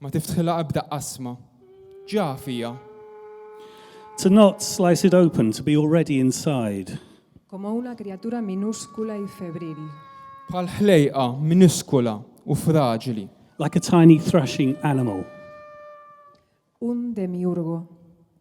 Ma tiftħilha ebda qasma. Ġa fija. To not slice it open, to be already inside. Como una criatura minúscula y febril. Bħal ħlejqa minuskula u fraġli. Like a tiny thrashing animal. Un demiurgo.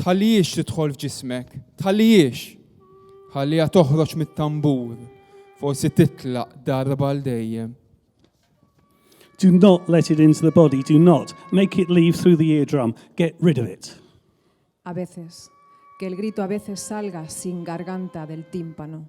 Tħallihiex tidħol f'ġismek, tħallihiex. Ħalliha toħroġ mit-tambur, forsi titlaq darba l dejjem. Do not let it into the body, do not make it leave through the eardrum, get rid of it. A veces, que el grito a veces salga sin garganta del tímpano.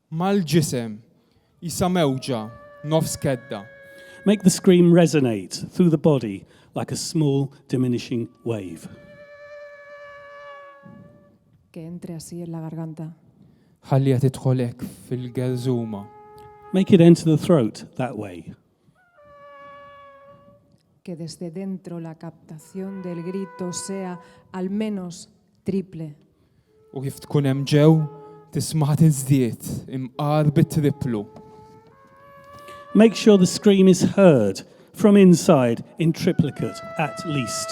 Mal-ġisem, qisha mewġa, nofs kedda. Make the scream resonate through the body like a small diminishing wave. Que entre así en la garganta. Ħalliha tidħol hekk fil-gelżuma. Make it enter the throat that way, que desde dentro la captación del grito sea al menos triple. U kif tkun hemm ġew, tismaħa tiżdied imqar bit-triplu. Make sure the scream is heard from inside in triplicate at least.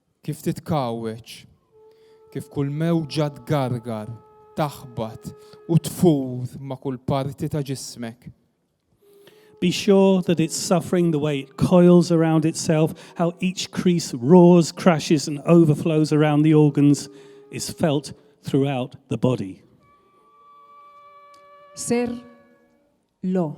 Kif titkawweġ, kif kull mewġa tgargar, taħbat u tfur ma' kull parti ta' ġismek. Be sure that it's suffering the way it coils around itself, how each crease roars, crashes and overflows around the organs is felt throughout the body. Ser lo.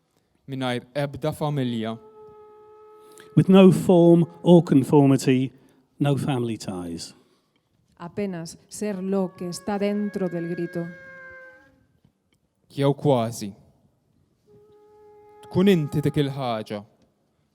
mingħajr ebda familja. With no form or conformity, no family ties. Apenas ser lo que está dentro del grito. Jew kważi. Tkun inti dik il-ħaġa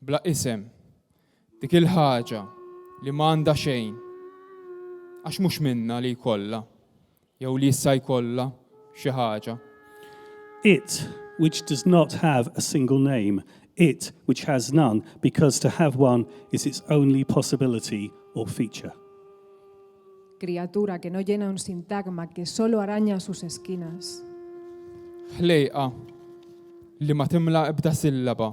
Bla isem. Dik il-ħaġa li ma għandha xejn. Għax mhux minnha li jkollha, jew li issa jkollha, xi ħaġa. It, which does not have a single name, it, which has none, because to have one is its only possibility or feature. Criatura que no llena un sintagma, que solo araña sus esquinas. Ħlejqa li ma timla ebda sillaba.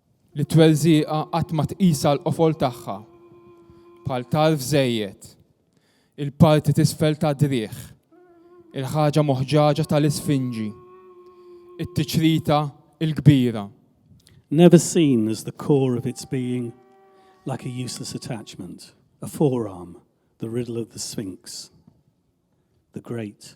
li t-twelżiqa qatt ma tqisha l-qofol tagħha, bħal tarf żejjed, il-parti t'isfel tad-driegħ, il-ħaġa moħġaġa tal-isfinġi, it-tiċrita l-kbira. Never seen as the core of its being, like a useless attachment, a forearm, the riddle of the sphinx, the great